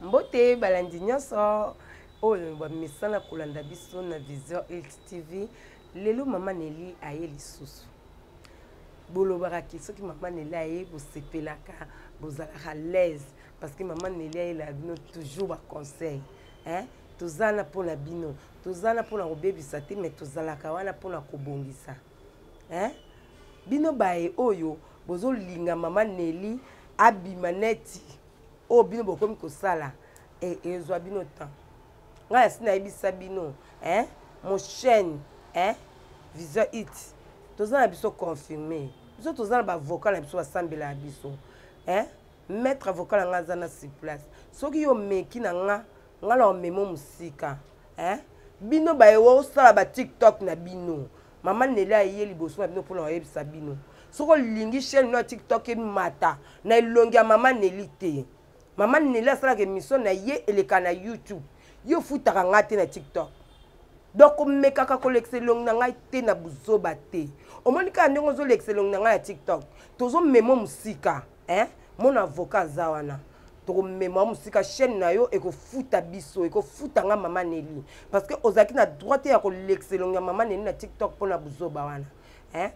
mbote balandi nyonso oyo bamisala kolanda biso na vision elt tv lelo mama neli aye lisusu bolobaka ke soki mama neli aye bosepelaka bozalaka laise parce que mama neli ayelaka bino toujours baconseil toza na mpona bino toza na pona kobebisa te mais tozalaka wana pona kobongisa hein? bino baye oyo bozolinga mama neli abima neti oyo bino bokomi kosala e, ezwa bino temps ngai asi nayebisa bino hein? mochaine hein? vision it toza na biso confirme biso toza na bavocal na biso basambela ya biso hein? maître avocat na ngai aza na surplace soki yo omeki na ngai nga na omemo mosika eh? bino baye osala ba tiktok na bino mama nele aye liboso na bino mpona koyebisa bino soki olingi chaine no ya tiktok emata na elongi ya mama neli te mama neli asalaka emission na ye eleka na youtube yo ofutaka ngai te na tiktok donc omekaka kolekisa elongi na ngai te na buzoba te omoni kaka ndenge ozolekisa elongi na ngai ya tiktok tozomema mosika eh mon avocat aza wana tokomema mosika chaîne na yo ekofuta biso ekofuta nga mama neli parce que ozalaki na droit te ya kolekisa elongi ya mama neli na tiktok mpo na buzoba wana eh?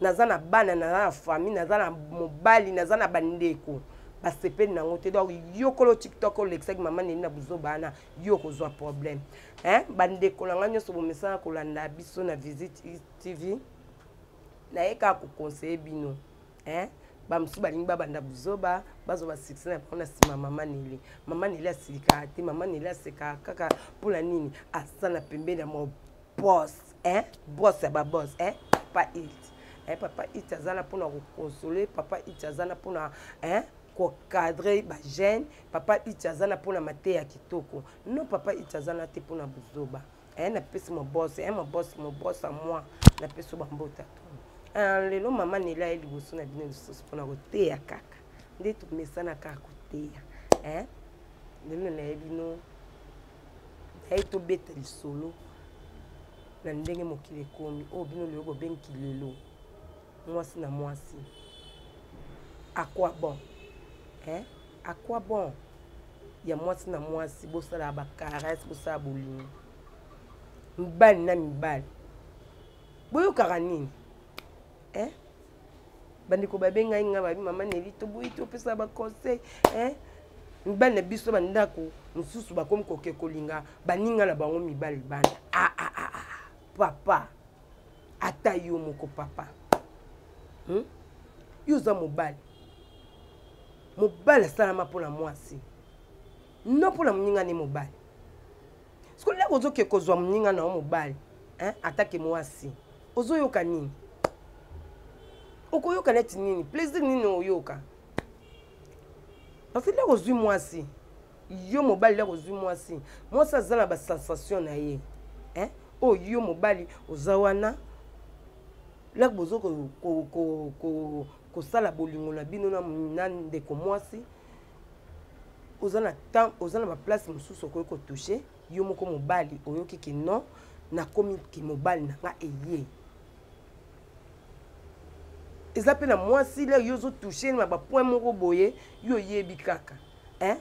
naza na bana naza na famille naza na mobali naza na bandeko basepeli nango te donc yokolo tiktok olekisaki mama neli na buzoba wana yo okozwa problème eh? bandeko na ngai nyonso bomesana kolanda biso na visite tv naye kaka kokonseye bino eh? bamosusu balingi babanda buzoba bazwa basuccès na bango na nsima mama neli mama neli asilikaka te mama neli asekaka kaka mpo na nini aza na pembeni ya mobos eh? bos ya babos eh? papa it eh? papa it aza na mpo na kokonsole papa it aza na mpo na eh? kokadre bagene papa it aza na mpo na mateya kitoko no papa it aza na te mpo na buzoba eh, napesi mobose eh, mobose mobose a moi napesi bambota eh, lelo mama nela ye liboso na bino lisusu mpona koteya kaka nde tomesana kaka koteya eh, lelo naye bino naye tobeta lisolo na ndenge mokili ekomi oyo bino lelo bobengi kilelo mwasi na mwasi à quoi bon eh? à quoi bon ya mwasi na mwasi bosalaka bacaresse bosala bolingo mibali na mibali boyokaka nini eh? bandeko babengai ngai babi mama neli toboyi topesa baconseil eh? mibali na biso bandako mosusu bakomi koke kolinga baninga na bango mibali bana ah, ah, ah, ah. papa ata yo moko papa hmm? yo oza mobali mobali asalama mpo na mwasi no mpo na moninga ne mobali sikoyo ndako ozoke kozwa moninga na yo mobali atake mwasi ozoyoka nini okoyoka neti nini plaisir nini oyoka parce ndako ozwi mwasi yo mobali lelo ozwi mwasi mwasi aza na basensation na ye eh? oyo oh, yo mobali oza wana lak bozo kosala bolingo na bino na ndeko mwasi oza na temps oza na baplace mosusu okoki kotouche yo moko mobali oyoki ke non nakomi ke mobali na nga eye eza mpe na mwasi lere yo ozotouche na bapoint moko boye yo oyebi kaka eh?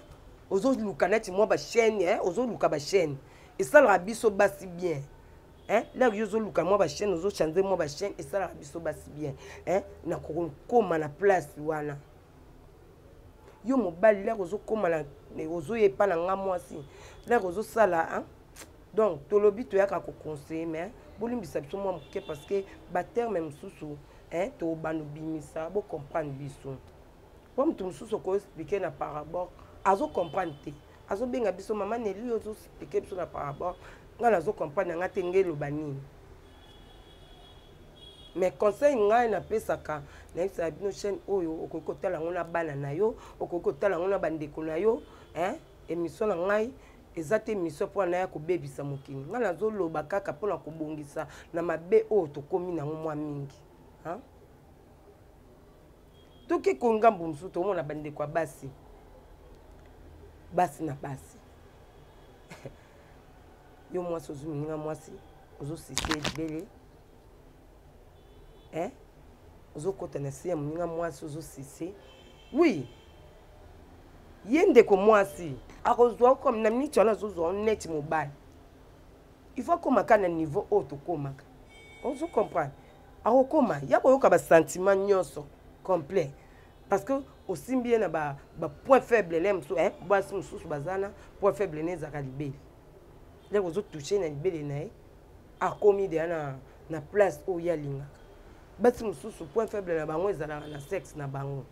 ozoluka neti mwa bachaine eh? ozoluka bachaine esalaka biso basi bien eh? lere yo ozoluka mwa bachaine ozochange mwa bachaine esalaka biso basi bien eh? na kokoma na place wana yo mobali lere ozokoma ozoya epa na nga mwasi lere ozosala donc tolobi toyaka koconseille mais bolimbisa biso mwa moke parce que baterme mosusu tobanda obimisa bocomprendre biso mpo moto mosusu okoexplike na parabole azocomprendre te azobenga biso mama neli ozoexplike biso na parabole ngai nazocomprendre yanga te ngai eloba nini mais conseil ngai napesaka nayebisaka bino chaîne oyo okoki kotala yango na bana na yo okoki kotala yango na bandeko na yo emission na ngai eza te mission mpo anaya kobebisa mokili ngai nazoloba kaka mpo na kobongisa na mabe oyo tokomi nango mwa mingi toki kongambo mosusu tokomona bandeko ya basi basi na basi yo mwasi ozwi moninga mwasi ozosise ebele eh? ozokota na se ya moninga mwasi ozosise wi ye ndeko mwasi akozwa comme na miniti wana azozwa neti mobali il faut akomaka na niveau oyo tokomaka ozo comprendre akokoma ya koyoka basentiment nyonso complet parce que osimbi ye na bapoint ba faible le mosusu eh, basi mosusu baza na point faible ne ezalaka libele ndeko ozotouche na libele na ye akomi deya na, na place oyo ye alingaka basi mosusu point faible na bango ezalaka na sexe na bango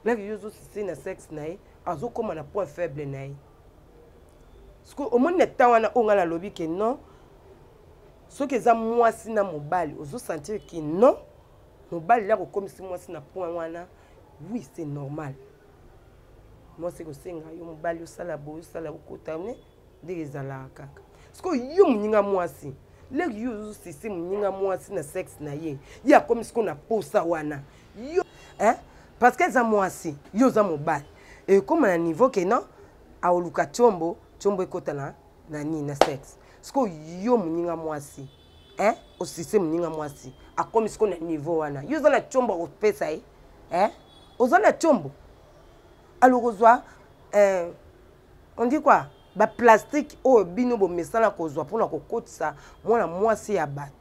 laki yo ozosisi na sexe na ye azokóma na point faible na ye sikoyo omoni na temps wana oyo ngai nalobi ke non soki eza mwasi na mobali ozosentir ke non mobali ya kokomisi mwasi na point wana oui c'est normal mwasi ekosenga yo mobali osala boye osala okota ne ndenge ezalaka kaka sikoyo yo moninga mwasi leki yo ozosisi moninga mwasi na sexe na ye ye akomi sikoyo na posa wana yo eh? parce que eza mwasi yo oza mobali ekóma na niveau ke non aoluka tiombo tiombo ekota na na nini na sexe sikoyo yo moninga mwasi eh? osise moninga mwasi akomi sikoyo na niveau wana yo oza na tiombo akopesa ye eh? oza na tiombo alokozwa eh, on dit quoi baplastike oyo bino bomesana kozwa mpona kokotisa mwana mwasi ya bato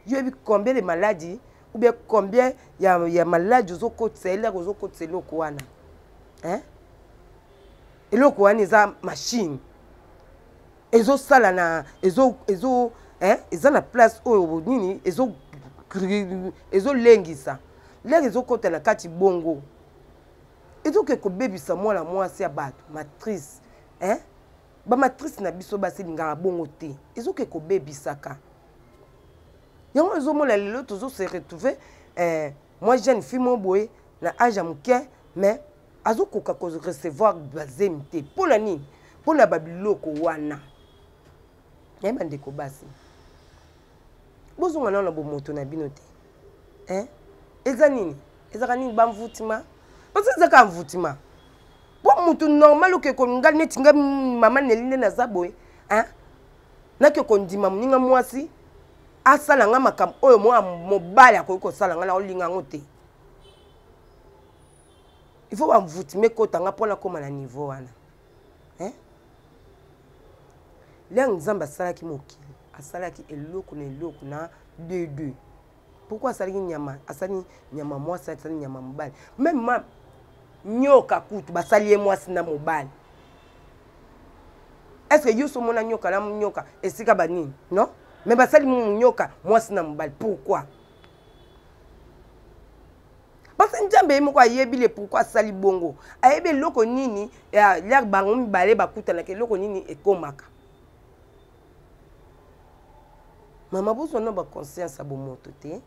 yoyebi combien de maladi ou bien combien ya, ya maladi ozokotisa eloko ozokotisa eloko wana eh? eloko wana eza machine ezosala na ezo, ezo eh? eza na place oyo nini ezo ezolengisa lere ezokota na kati bongo ezoke kobebisa mwana mwasi ya bato matrice hein? bamatrice na biso basi elingaka bongo te ezoke kobebisaka yango ezomona lelo tozo se retrouve eh, mwa jeune fille mo boye na age ya moke mais azokoka korecevoir bazemi te mpo na nini mpo na babiloko wana naye bandeko basi bozonga nao na bomoto na bino te eh? eza nini ezaka nini bamvutima parce ezaka mvutima mpo motu normal oke kolinga neti nga mama neli nde naza boye eh? nake kondima moninga mwasi asala nga makambo oyo mwa mobali akoki kosala nga naolinga yango te il faut bamvutime ekota nga mpo nakóma na niveau wana eh? liang nzambe asalaki mokili asalaki eloko na eloko na deux deux pourkoi asalaki nyama asali nyama mwasi asali nyama mobali meme ma nyoka kutu basali ye mwasi na mobali estce que yo so omona nyoka na nyoka esika banini non me basali nyoka mwasi na mobali pourkoi parce nzambe ye moko ayebi le pourkui asali bongo ayebi eloko nini lere bango mibale bakutanaka eloko nini ekomaka mama bozwa na baconscience ya bomoto te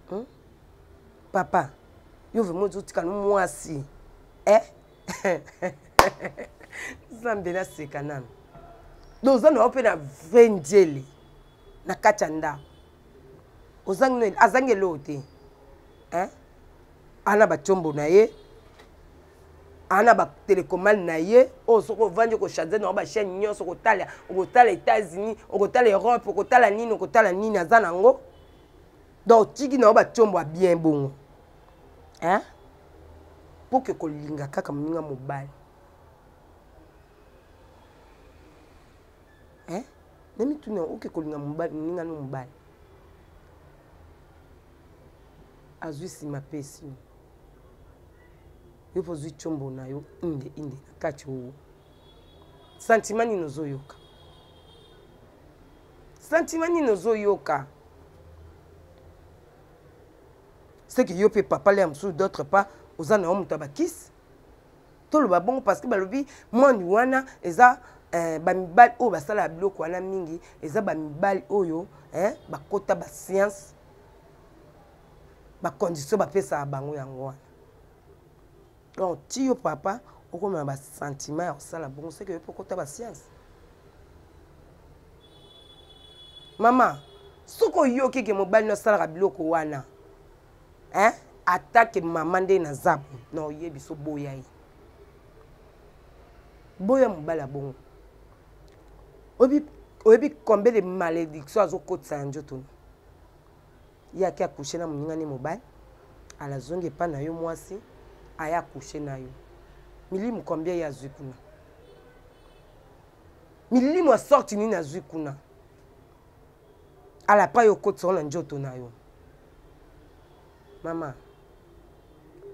hmm? papa yo vraimen ozotika no mwasi eh? nzambe naseka nano doza na yo mpe na vrai njele na kati ya ndako ozangi nini azangi eloo te hein? ana batiombo na ye ana batelecomale na ye oyo soki ovandi okochange na bachaine nyonso okotala okotala états-unis okotala europe okotala nini okotala nini aza na yango donc tiki na yo batiombo ya bien bongo hein? mpo ke kolinga kaka moninga mobali eh? na mituna oke kolinga mobali moninga no mobali azwi nsima apesi yo yo mpo ozwi combo na yo inde inde na kati owo santima nini ozoyoka santima nini ozoyoka seke yo mpe papa lea mosusu d'autre part oza na yo moto ya bakisi toloba bongo parce que balobi mwani wana eza eh, bamibali oyo basalaka biloko wana mingi eza bamibali oyo eh, bakota basiance bacondition bapesaka bango yango wana donc ti yo papa okoma na basentiment ya kosala bongo soki oyo mpo okota basiance mama soki oyoki ke mobali no asalaka biloko wana hein attaque maman nde na zabu na oye biso boya ye boya mobali ya bongo oyebi combien de malédiction azokotisa na nzoto ye ake akushe na moningani mobali alazongi epai na yo mwasi aye akushe na yo milimu combien ye azwi kuna milimu ya sorti nini azwi kuna alapa yo okotisa ngo na njoto na yo mama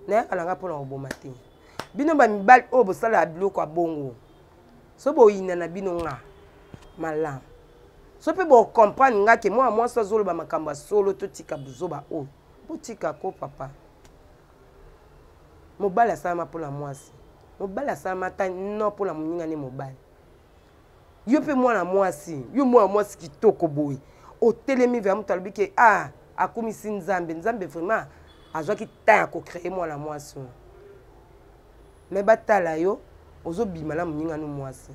nayaka na ngai mpo na koboma te bino bamibali oyo bosalaka biloko ya bongo so boyina na bino nga malamu so mpe bocomprendre nga ke mwana mwasi azoloba makambo ya solo totika buzoba oyo botika ko papa mobali asalama mpo na mwasi mobali asalama ata no mpo na moninga nde mobali yo mpe mwana mwasi yo mwana mwasi kitoko boye otelemi vea moto alobi ke a ah, akumisi nzambe nzambe vraiment azwaki temps ya kocreye mwana mwasi oyo me batala yo ozobima na moningano mwasi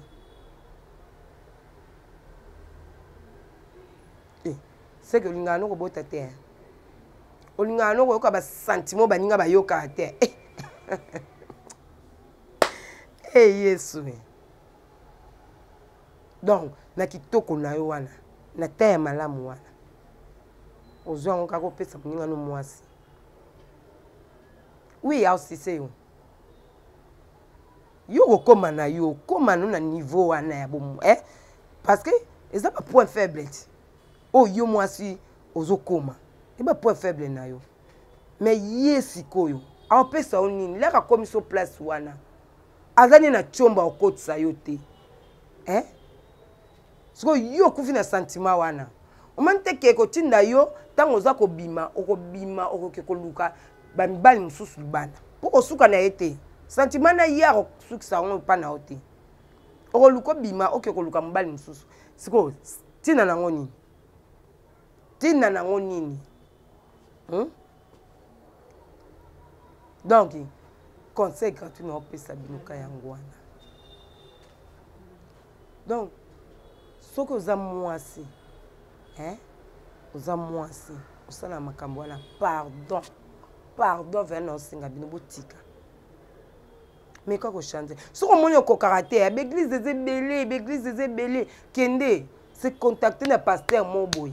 eh, seke olingaka no kobota te eh. olingaka no koyoka basentiment baninga bayokaka te eh. e yesu donc na kitoko na yo wana na ta ya malamu wana ozwa yango kaka opesa moninga no mwasi wi ausise yo yo okokoma na yo okoma no na niveau wana ya bomo eh? parce que eza ba point faible ti oyo oh, yo mwasi ozokoma e ba point faible na yo mais ye sikoyo aopesa yo nini laka akomi so place wana aza nde na tiomba okotisa yo te eh? sikoyo yo okufi na sentiment wana omani te ke ekotinda yo ntango oza kobima okobima okoke koluka bamibali mosusu libanda mpo kosuka na ye te sentiment na ye akosukisa yango epa na yo te okoluka obima oke koluka mobali mosusu sikoyo ntina nango nini ntina nango nini hmm? donc conseil gratuit na opesa bino ka yango wana donc soki oza mwasi eh? oza mwasi osala makambo wana pardon pardon vena osenga bino botika meka kochange soki omoni okokaka te ya baeglise eza ebele baeglise eza ebele kende se contacte na paster mo boye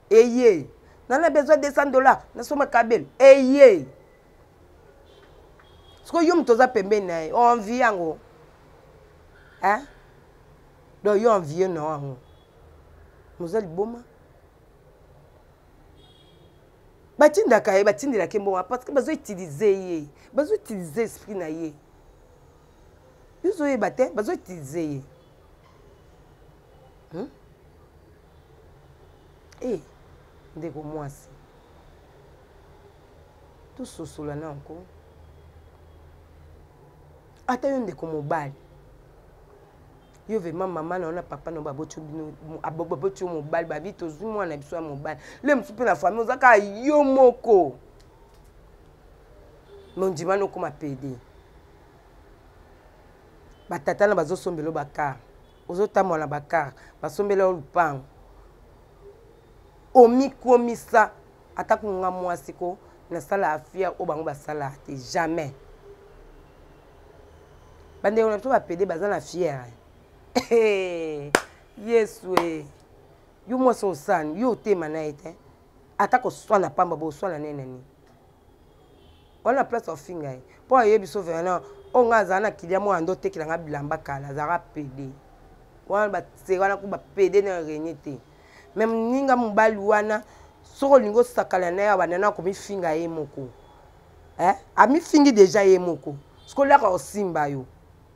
eye nana besoin 200 dollars nasomba kabel eye sikoyo yo moto oza pembeni na ye oenvie yango hein? donc yo envie na yango moza liboma batindaka ye batindelaka ye mbongo parce que bazo utilize ye bazo utilize esprit na ye bizoyeba te bazo utilize ye hmm? e ndeko mwasi tososola na yango ata yo ndeko mobali yo vraimen mama na yo na papa na yo baboti yo mobali babi tozwi mwana na biso ya mobali le mosusu mpe na famille oza kaka yo moko mondimani okoma pede batata na bazosombelo bakar ozotambola na bakar basombela yo lupango omikomisa ata kunga mwasi ko nasala afia oyo bango basalaka te jamais bandeko na biso bapede baza na fiere yesu e yo mwasi osani yo otema na ye te ata koswana pamba boswana nene nini wana place ofinga ye mpo ayebi so verna oyo ngai azala na kilia mwana nde otekela ngai bilamba kala azalaka pede wana base wana ku bapede na renie te me moninga mobali wana soki olingi osakana na ye abanda na komifinga ye moko eh? amifingi deja ye moko soki olaka osimba yo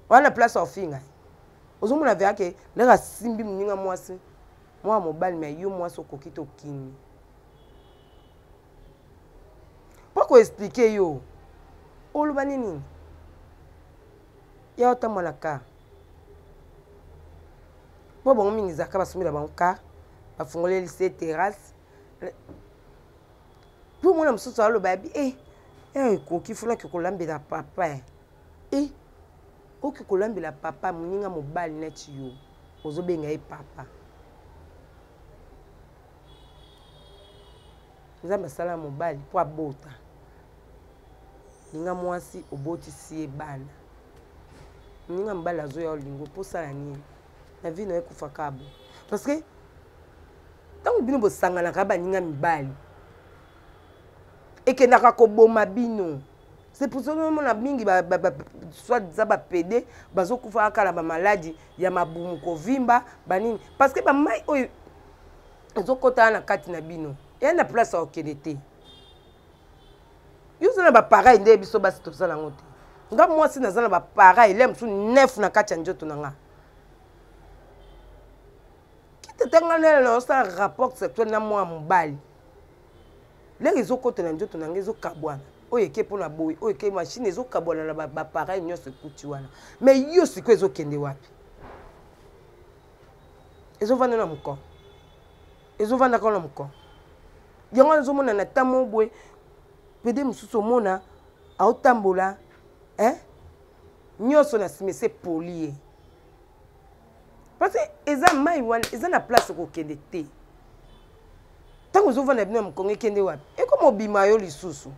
wana place ofinga ye ozomona vea ke ndenge asimbi moninga mwasi mwana mobali me yo mwasi okoki te okimi mpo koexplike yo oloba nini ya otambwa na car mpo bango mingi ezalaka basombela bango car bafungoleli se terrasse mpo omona mosusu aloba yabi e eh, eh, ekoki funaki kolambela papa e eh, oki kolambela papa moninga mobali neti yo ozobenga ye papa nzambe asala ya mobali mpo abota linga mwasi obotisi ye bana moninga mobali azoya olingo mpo osala nini na vie nayo ekufaka bo parce que ntango bino bosanganaka baninga mibali ekendaka koboma bino c'est pour ça omona mingi soit diza bapede bazokufaka kala bamaladi ya mabumu kovimba banini parce que bamai oyo ezokota na kati na bino eya na place ya kokende te yo oza na bapareil nde biso basi toza nango te nga mwasi naza na bapareil le mosusu nef na kati ya njoto na nga kitata nga nele naosala rapport sexuel na mwana mobali lere ezokota na njoto na nga ezokabwana oyo eke mpo na boye oyo eke mashine ezokabwana na bapareil nyonso ekuti wana mai yo sikoyo ezokende wapi ezovanda na mokon ezovanda kaka na mokon yango wana ezomona na ta mo boye pede mosusu omona aotambola eh? nyonso na nsima ese poli ye parce eza mai wana eza na place okokende te ntango ozovanda bino ya mokongo ekende wapi ekoma obima yo lisusu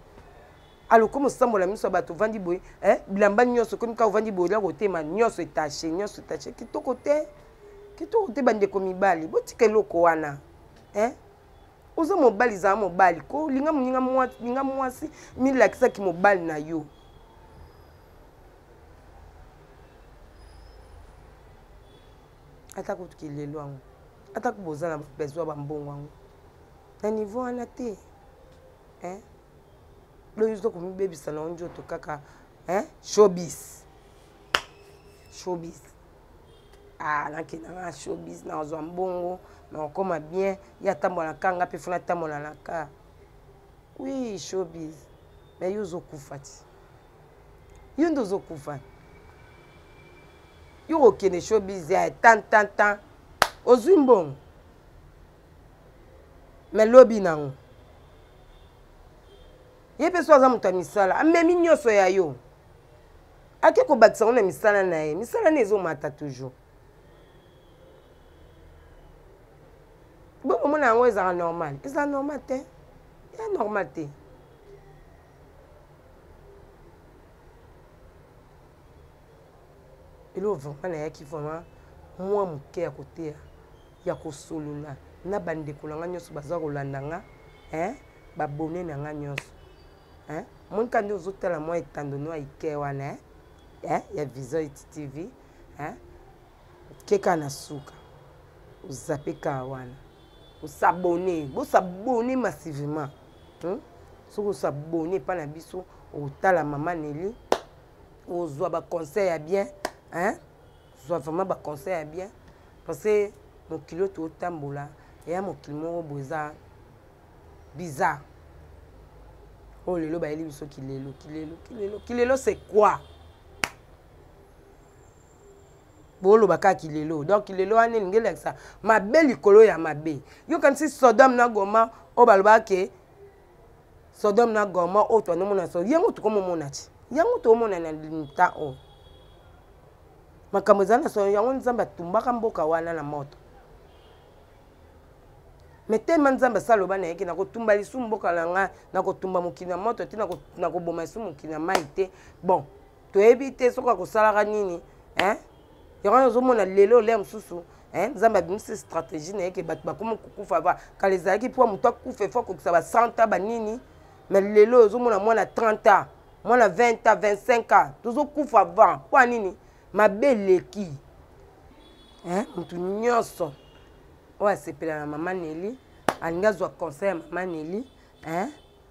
alo komi osambola miso ya bato ovandi boye eh, bilamba nyonso komi kaka ovandi boye olia kotema nyonso etache nyonso etache kitoko te kitoko te bandeko mibali botika eloko wana eh? oza mobali zala mobali ko linga moninga mwasi linga mwasi milakisaki mobali na yo ata kutuki lelo yango atako boza na besoin bambongo yango na niveau wana te eh? donc oza komibebisa na yo nzoto kaka hein? showbiz showbiz ah, nakenda nga showbiz nazwa mbongo nakokoma bien ye atambola na ka nga mpe fo natambola na ka wi showbiz me yo ozokufa ti yo nde ozokufa yo kokende showbiz ya tantantan ozwi mbongo me lobi nango ye mpe so aza moto ya misala amemi nyonso ya yo ake kobakisa yango na misala na ye misala na ezomata toujours bokomona yango ezalaka normal ezala normal te ya normal te eloo vraiment nayaki vraiment mwa moke ya koteya ya kosolola na bandeko na ngai nyonso baza kolanda nga eh, babone na ngai nyonso eh, monika nde ozotala mwa etando no aike wana eh, eh, ya vision etv eh, keka na suka ozape kaa wana osabone bosabone massivement hmm? soki osabone epai na biso otala mama neli ozwa ba conseil ya bien hein zwa vraiment ba conseil ya bien parce que mokili oyo totambola eya mokili moko boye eza bizarre oyo oh, lelo bayeli biso kilelo kilelo kilelo kilelo c'est quoi boloba kaka kilelo donc kilelo wana elingi elakisa mabe likolo ya mabe yokanisi sodome na goma oyo balobaka ke sodome na goma oyo twandomona so yango tokomomona ti yango tokomona na nta oyo oh. makambo ezali na solo yango nzambe atumbaka mboka wana na moto me telema nzambe asala loba na yeke nakotumba lisumu mboka na ngai nakotumba mokili na moto te nakoboma lisumu mokili na mai te bon toyebi te soki akosalaka nini hein yango wana ozomona lelo olia mosusu nzambe abimisi stratégie na ye ke bato bakomi kokufa ba kala ezalaki mpo moto akufa efo akokisa ba 100 ans banini mais lelo oyo ozomona mwana 30 ans mwana 20 ans 25 ans tozokufa avant mpo ya nini mabe eleki moto nyonso oyo asepela na mama neli alingi azwa conseil ya mama neli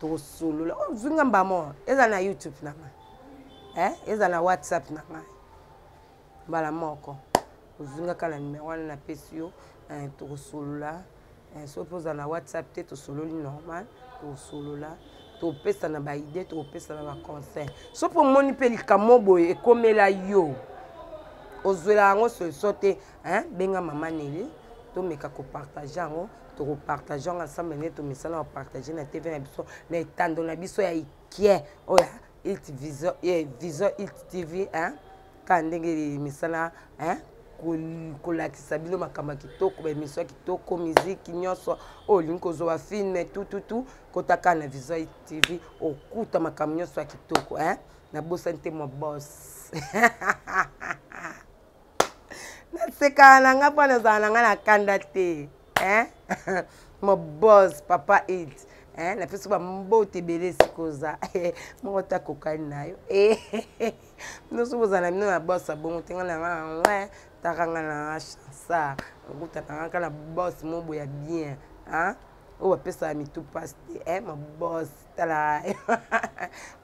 tosolola oh, zwi nga mbamo eza na youtube na ngai eh? eza na whatsapp na ngai mbala moko ozwi nga kaka na numero wana napesi yo eh, tokosolola eh, soki mpe oza na whatsapp te tosololi normal tokosolola topesana baide tokopesana baconseil soki mpe omoni mpe likambo boye ekomela yo ozwela yango solution te benga mama neli tomeka kopartage yango tokopartageanga ensemble nde tomisala na partage na tv na biso na etando na biso ya ikie oyo ilt vision eh, vision ilt tv hein? kaka ndenge misala hein? kolakisa bino makambo ya kitoko baemission ya kitoko miziki nyonso oyo oh, olingi kozwa bafilme tututu kota kaka na vision tv okuta makambo nyonso ya kitoko hein? nabosani te mwa bos nasekaka na nga mpo nazala na nga na kanda te eh? mobos papa it eh? na biso bambote ebele sikoza eh, moko te akokani na yo eh? noso bozala bino na bos abongo te nga na nga nangwe taka nga na nga chansar okutaka nga ka na bos mobo ya bien ah? oyo bapesaka mitu mpasi te eh? mobos tala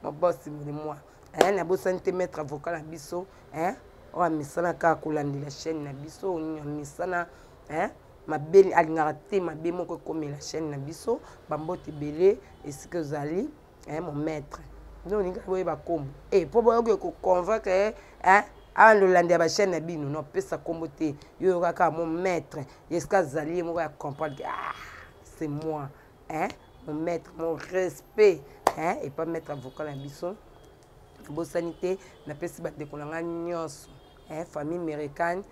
mobos molimwa eh, nabosani te maître avocat na biso eh, oyo amesana kaka kolandela chaîne na biso oyo nini amesana eh, mabe alingaka te mabe moko ekomela chaîne na biso bambote ebele esika ozali eh, mon maître nde olingi boyeba nkombo e eh, mpo boyoki koconvaincre eh, eh, awa lolandi ya bachaîne na bino nopesa nkombo te yo oyokaka mon maître esika azali ye moko ya comprendre ah, c'est moi hein mon maître mon respect hein et pas maître avocat na biso bosani te napesi bandeko na ngai nyonso hein famille américaine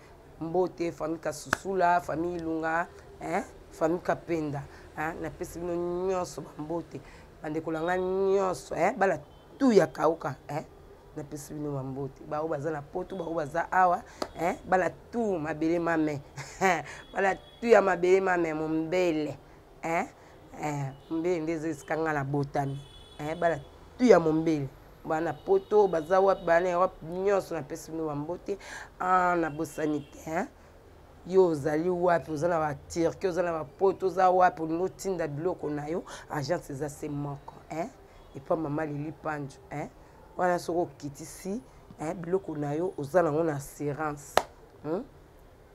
mbote famille kasusula famille ilunga hein famille kapenda hein napesi bino nyonso bambote bandeko na ngai nyonso hein bana tout ya kauka hein napesi bino bambote baoyo baza na poto baoyo baza awa hein bana tout mabele mame bana tout ya mabele mame mombele eh, eh, mbele nde ezalisa nga na botami eh, bana tu ya mombele bana poto baza wapi bana europe nyonso napesi bino bambote ah, nabosani te eh? yo ozali wapi oza na baturki oza na bapoto oza wapi olingi otinda biloko na yo agence eza se moko eh? epa mama lili panjo eh? wana soki okitisi eh? biloko na yo oza nango na assurance hmm?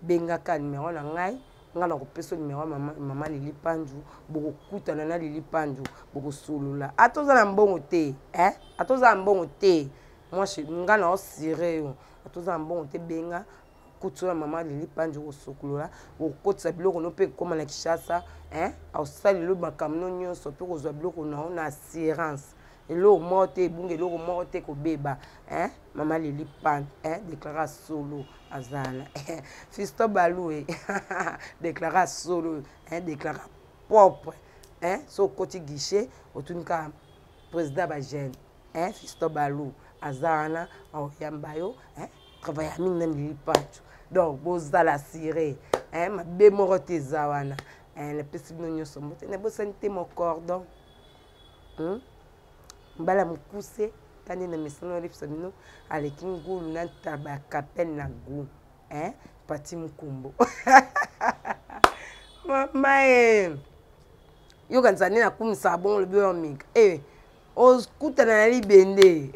bengaka numero na ngai ngai nakopesa numero mama, mama lili panju bokokutana na lili panju bokosolola ata ah, oza na mbongo te eh? ata ah, oza na mbongo te mwasi ngai naosire yo ata ah, oza na mbongo te benga kutu na mama lili panju okosokolola okokotisa biloko no mpe ekoma na kishasa eh? aosala lelo makambo no nyonso mpe kozwa biloko nao na assurance eloko moko te ebunga eloko moko te kobeba eh? mama leli pan eh? déclara solo azana eh? fisto balue déclara solo eh? déclara propre eh? so okoti guichet otuni kaka président bagene eh? fisto balu aza wana aoyamba yo eh? travaille ya mingi na leli pancho donc bozala sire eh? mabe moko te eza wana eh? napesi bino nyonso mbote nabosani te mocordon hmm? mbala mokuse tande na mesana olipisa bino aleki ngulu na ntaba ya kapele na gu eh? pati mokumbo mama e yoka nzande nakumisaka bongo lobi oyo mika e eh, okutana na libende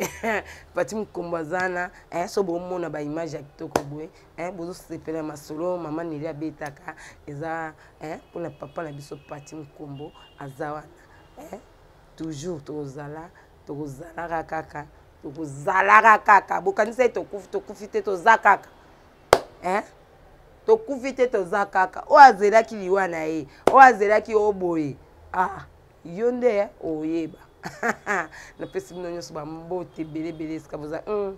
pati mokombo aza na eh, so bomona baimage ya kitoko boye eh, bozosepela masolo mama neli abetaka eza mpona papa na biso pati mokombo aza wana eh, toujours tokozala tokozalaka kaka tokozalaka kaka bokanisaki tokufi tokufi te toza kaka eh? tokufi te toza kaka oyo azelaki liwa na ye oyo azelaki oyo boye ah, yo nde eh, oyeba napesi bino nyonso bambote ebele ebele esika boza mm.